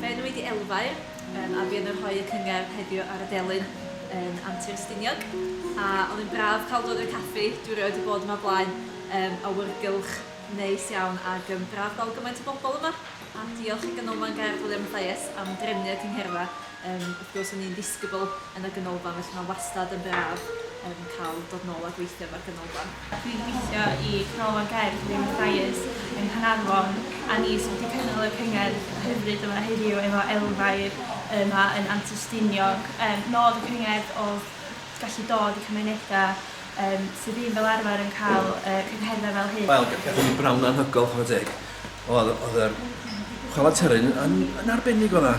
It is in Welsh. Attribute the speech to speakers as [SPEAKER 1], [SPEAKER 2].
[SPEAKER 1] Fe ddwy di elfau yym a fi yn rhoi y cyngerdd heddiw ar y delyn yn Antur Stiniog a oedd yn braf cael dod i'r caffi, dwi erioed wedi bod yma o blaen yym awyrgylch neis iawn ag yn braf gweld gymaint o bobl yma a diolch i Ganolfan Gerdd Wiliam Mathias am drefnu y cyngherddau yym wrth gwrs o'n i'n ddisgybl yn y ganolfan felly mae wastad yn braf yym cael dod nôl a gweithio efo'r ganolfan. Dwi'n gweithio
[SPEAKER 2] i Ganolfan Gerdd Wyn Mathias yng Nghanarfon a ni sydd wedi cynnal y cyngerdd hyfryd yma heddiw efo Elfair yma yn Antur Stiniog. Yym nod y cyngerdd oedd gallu dod i cymunedau yym sydd ddim fel arfer yn cael y cyngherddau fel hyn. Wel gathon ni bnawn
[SPEAKER 3] anhygoel chwarae teg. Oedd oedd yr chwalfa teryn yn yn arbennig o dda.